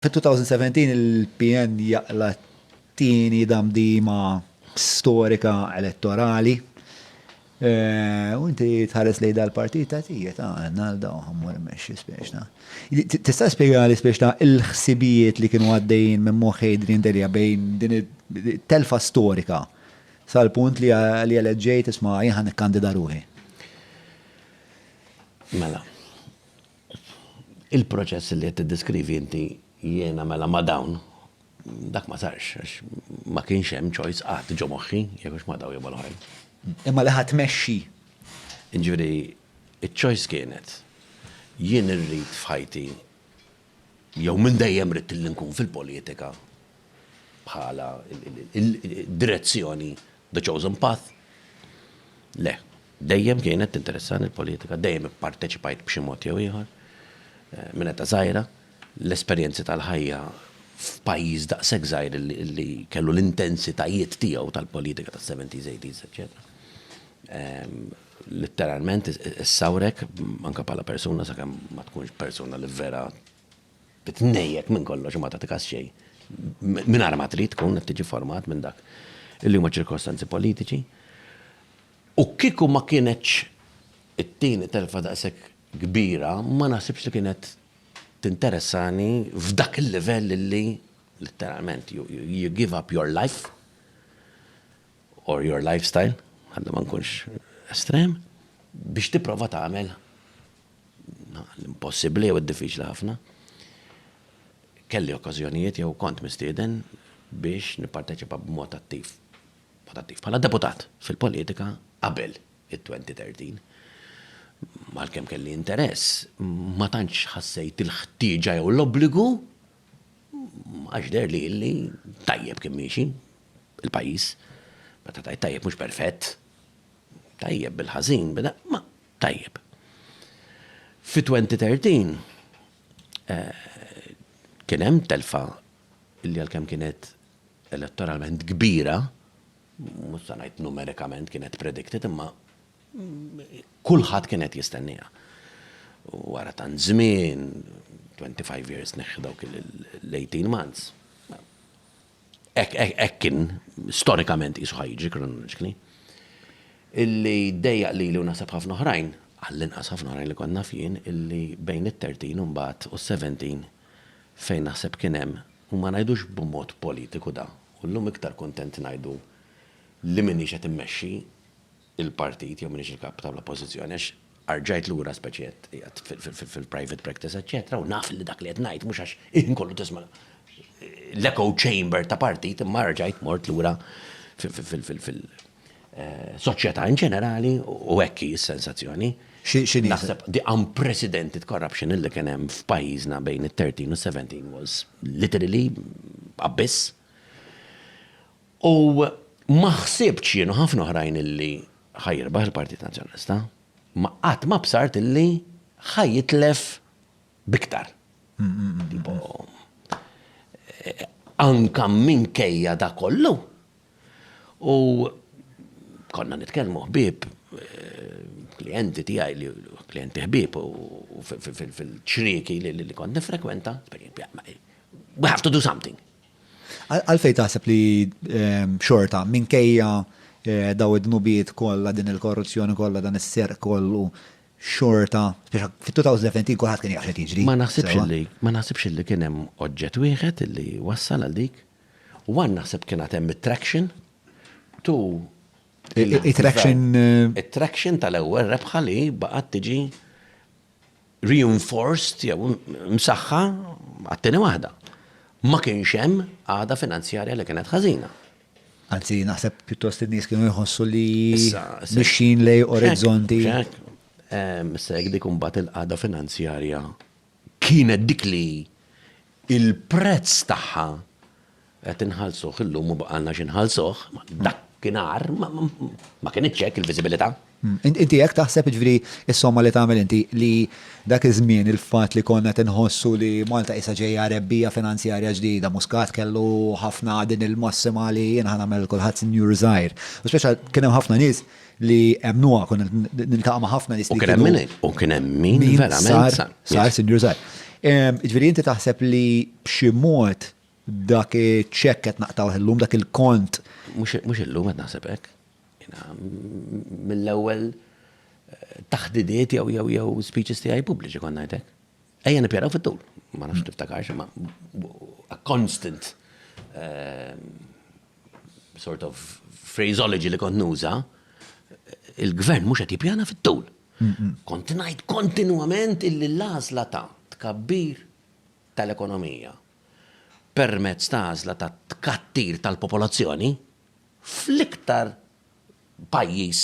Fid-2017 il-PN jaqla' t-tieni damdima storika elettorali. U inti tħares lejn dal-partit tgħid, ija ta' Arnaldo u ħammur immexxi spiċċna. Tista' spjegali spiċċna l-ħsibijiet li kienu għaddejjin minn moħħ Adrian Delia bejn din it-telfa storika sal-punt li eleġġejt isma' jien ħa nikkandida ruħi? Mela. Il-proċess li qed tiddeskrivi inti jiena mela ma' dawn dak ma sarx għax ma kienx hemm choice qatt ġo moħħi jekk hux ma' dawn jew mal-oħrajn. Imma li ħa tmexxi. Jiġifieri ċ-choice kienet jien irrid f'ħajti jew minn dejjem ridt li nkun fil-politika bħala direzzjoni The Chosen Path? Le. Dejjem kienet tinteressani l-politika, dejjem ipparteċipajt b'xi mod jew ieħor minn età żgħira. L-esperjenzi tal-ħajja f'pajjiż daqshekk żgħir li kellu l-intensitajiet tiegħu tal-politika tas-seventies, eighties, eċċetera. Litteralment issawrek anke bħala persuna sakemm ma tkunx persuna li vera Titnejjek minn kollox u ma tagħti kas xejn mingħajr ma trid tkun qed tiġi format minn dak li huma ċirkostanzi politiċi. U kieku ma kienetx it-tieni telfa daqshekk kbira ma naħsibx li kienet tinteressani f'dak il-livell li litteralment you give up your life or your lifestyle, ħalli ma nkunx estrem, biex tipprova tagħmel l-impossibbli jew id-diffiċli ħafna, kelli okkażjonijiet jew kont mistieden biex nipparteċipa b'mod attiv, b'mod attiv, bħala deputat fil-politika qabel it-2013. Għalkemm kelli interess, ma tantx ħassejt il-ħtieġa jew l-obbligu għax deher li li tajjeb kien miexi il-pajjiż. Meta tgħid tajjeb mhux perfett. Tajjeb bil-ħażin, bil ma tajjeb. Fi 2013 eh, kien hemm telfa li għalkemm kienet elettoralment kbira, mhux se ngħid numerikament kienet predicted imma kulħadd kienet jistennija. Wara tan żmien, 25 years neħħi dawk l-18 months. Hekk kien storikament qisu ħajġi kronoloġikli. Illi dejjaq lili u naħseb ħafna oħrajn, għall-inqas ħafna oħrajn li kont naf jien, illi bejn it-13 u mbagħad u s-17 fejn naħseb kien hemm, u ma ngħidux b'mod politiku da, u llum iktar kuntent ngħidu li m'iniex qed immexxi il-partit jew minix il-kap tal-oppożizzjoni għax arġajt lura speċi qed qiegħed fil-private practice eċċetera u naf li dak li qed ngħid mhux għax il-ħin kollu tisma' l-echo chamber ta' partit imma arġajt mort lura fil- Eh, soċjetà in ġenerali u hekk hi s-sensazzjoni. Naħseb the unprecedented corruption illi kien hemm f'pajjiżna bejn it-13 u 17 was literally abyss. U ma ħsibtx jien u ħafna oħrajn illi ħa jirbaħ il-Partit Nazzjonalista, imma qatt ma bsart illi ħa jitlef b'iktar. Tipo, anka minkejja dak kollu. U konna nitkellmu ħbieb, klijenti tiegħi li klijenti ħbieb u fil-ċrieki li kont nifrekwenta, we have to do something. Għalfejn taħseb li ehm, xorta minkejja eh, daw id-dnubiet kollha din il-korruzzjoni kollha dan is-serq kollu xorta, fit-2017 kulħadd kien jaħseb jiġri. Ma naħsibx li, ma naħsibx li kien hemm oġġett wieħed li wassal għal dik. U għan naħseb kien għad hemm traction tu it-traction eh, it-traction tal-ewwel rebħa li baqgħet tiġi reinforced jew msaħħa għat-tieni waħda. Ma kienx hemm għada finanzjarja li kienet ħażina. Anzi, naħseb pjuttost in-nies kienu jħossu li mixin lej orizzonti. Issa jekk dik imbagħad il-qagħda finanzjarja kienet dik li Il-prezz tagħha qed inħallsuh illum u baqgħalna xi nħallsuh, dakinhar ma kinitx hekk il-viżibilità. Inti hekk taħseb, jiġifieri s-somma li tagħmel inti li dak iż-żmien il-fatt li konna qed inħossu li Malta qisha ġejja rebbija finanzjarja ġdida, Muscat kellu ħafna din il-massima li jien ħa nagħmel lil kulħadd sinjur żgħir. U speċjal kien hemm ħafna nies li emnuha konna niltaqa' ma' ħafna nies li kien hemm u kien hemm min verament sar sar sinjur sar. Ġifieri inti taħseb li b'xi mod dak iċ-ċekk qed naqtgħu illum dak il-kont. Mhux illum qed naħseb hekk. Mill-ewwel eh, taħdidiet jew jew jew speeches tiegħi pubbliċi konna ngħidlek. Ejja nippjaraw fit-tul, ma nafx tiftakarx ma a constant eh, sort of phraseology li kont nuża, il-gvern mhux qed jippjana fit-tul. Kont ngħid kontinwament illi l-għażla ta' tkabbir tal-ekonomija permezz ta' għażla ta' tkattir tal-popolazzjoni fl-iktar pajjiż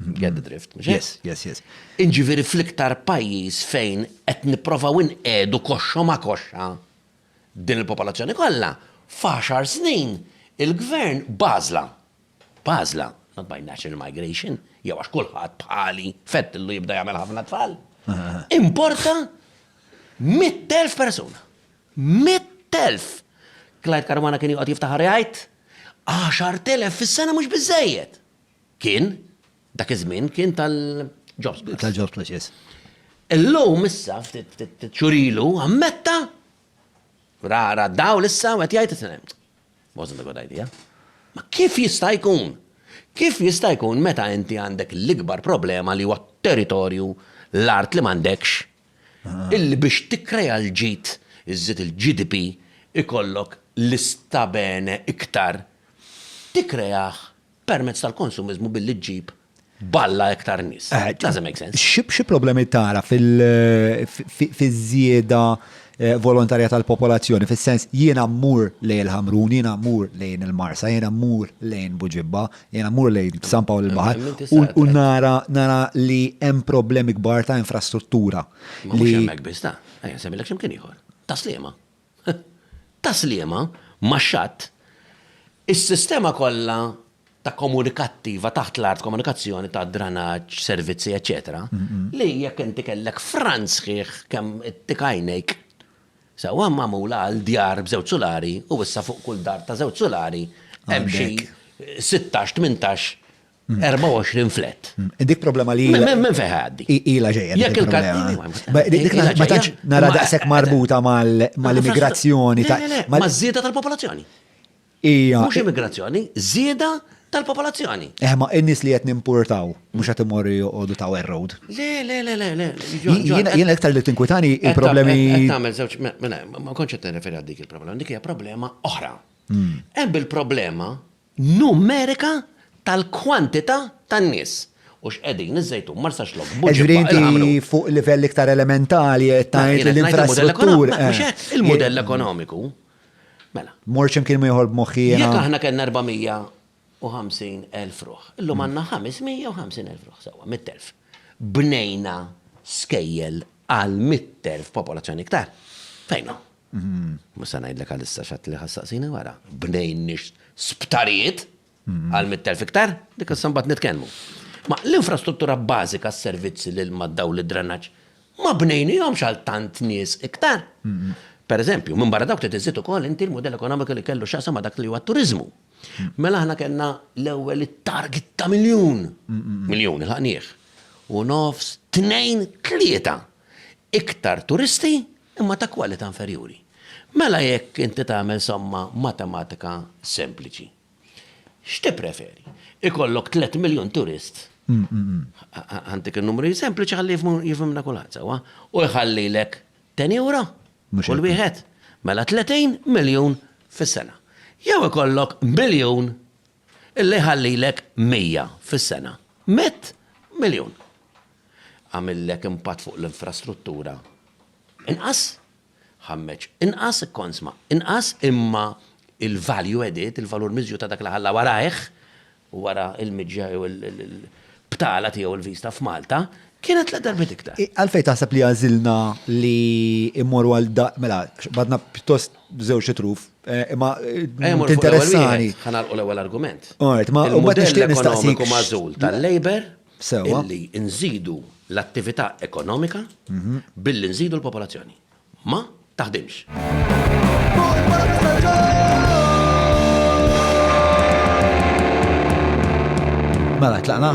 Get the drift, mhux Yes, yes, yes. Inġifieri fl-iktar pajjiż fejn qed nipprovaw inqegħdu koxxa ma' koxxa din il-popolazzjoni kollha, f'għaxar snin il-gvern b'għażla, b'għażla, not by natural migration, jew għax kulħadd bħali fettillu jibda jagħmel ħafna tfal, importa 100,000 persuna. 100,000! Clyde Caruana kien joqgħod jiftaħar jgħid, 10,000 fis-sena mhux biżejjed. Kien, dak iż-żmien kien tal-Jobs Plus. Tal-Jobs Plus, yes. Illum issa ftit xurilu ammetta rara daw l-issa għet jgħid it-sinem. Wasn't a good idea. Ma kif jista' jkun? Kif jista' jkun meta inti għandek l-ikbar problema li huwa territorju l-art li m'għandekx illi biex tikkreja l-ġid iżżid il-GDP ikollok l-istabene iktar tikkreah permezz tal-konsumiżmu billi ġġib b'alla iktar nies. Eh, Doesn't make sense. Xi problemi tara fil-żieda eh, volontarja tal-popolazzjoni, fis-sens jiena mmur lejn il-Ħamrun, jiena mmur lejn il-Marsa, jiena mmur lejn Buġibba, jiena mmur lejn San Pawl il-Baħar u nara nara li hemm problemi kbar ta' infrastruttura. Li hemmhekk biss ta' ejja semilek x'imkien ieħor. Ta' sliema. Ta' sliema ma' xatt, is-sistema kollha ta' komunikattiva taħt l-art, komunikazzjoni ta' dranaġġ, servizzi, eċċetera, li jekk inti kellek frant sħiħ kemm ittik għajnejk, sewwa magħmula għal djar b'żewġ sulari u issa fuq kull dar ta' żewġ sulari hemm xi sittax, tmintax 24 flat. Dik problema li. Men fejn ħaddi. Ila ġejja. Jekk il-kartina. Ma tantx nara daqshekk marbuta mal-immigrazzjoni ta' maż-żieda tal-popolazzjoni. Ija. Mhux immigrazzjoni, żieda tal-popolazzjoni. Eh, ma n-nies li qed nimpurtaw mhux qed imorru joqogħdu ta' road. Le, le, le, le, le. Jiena iktar li tinkwitani il-problemi. Tagħmel żewġ, ma kontx qed nirreferi għal dik il-problema, dik hija problema oħra. Hmm. Hemm il-problema numerika tal-kwantità tan-nies u x'qegħdin iż-Żejtun, Marsaxlokk, Buġibba, il-Ħamrun. Hekk ġifieri inti fuq livell iktar elementali qed tgħid li l-infrastruttura. Mhux hekk, il-mudell ekonomiku. Mela. Mortx imkien ieħor b'moħħi jiena. Jekk aħna kellna 450,000 ruħ, illum għandna 550,000 ruħ, sewwa, 100,000. Bnejna skejjel għal 100,000 popolazzjoni iktar. Fejn hu? Mhux se ngħidlek għalissa x'għedt li ħa ssaqsini wara. Bnejniex sptarijiet għal mitt elf iktar? Dik issa mbagħad nitkellmu. Ma l-infrastruttura bażika s-servizzi l-ilma d-dawl id-drenaġġ ma bnejnihomx għal tant nies iktar. Pereżempju, minn barra dawk trid iżżid ukoll inti l-mudell ekonomiku li kellu x'jaqsam ma' dak li huwa t-turiżmu. Mela aħna kellna l-ewwel it-target ta' miljun. Miljun ilħaqnieh. U nofs, tnejn, tlieta iktar turisti imma ta' kwalità inferjuri. Mela jekk inti tagħmel somma matematika sempliċi, x'tippreferi? Ikollok tliet miljun turist, ħantik in-numri sempliċi ħalli jifhimna kulħadd sewwa, u jħallilek ten ewro kull wieħed, mela tletin miljun fis-sena. Jew ikollok miljun Illi jħallilek mija fis-sena. Mitt miljun! Għamillek impatt fuq l-infrastruttura inqas, ħammeġ inqas, ikkonsma inqas, imma il-value added, il-valur miżjud ta' dak li ħalla warajh, wara l-miġja jew il-btala tiegħu l-vista f'Malta, kienet tliet darbiet iktar. Għalfejn taħseb li għażilna li mmorru għal, mela, badna pjuttost. bżewġ itruf. Eh, ma tinteressani. Ħanalqu l-ewwel argument. Alright, ma u bad nixtieq nistaqsik. mażul tal-labor illi nżidu l-attività ekonomika mhm. billi nżidu l-popolazzjoni. Ma taħdimx. Mela, tlaqna?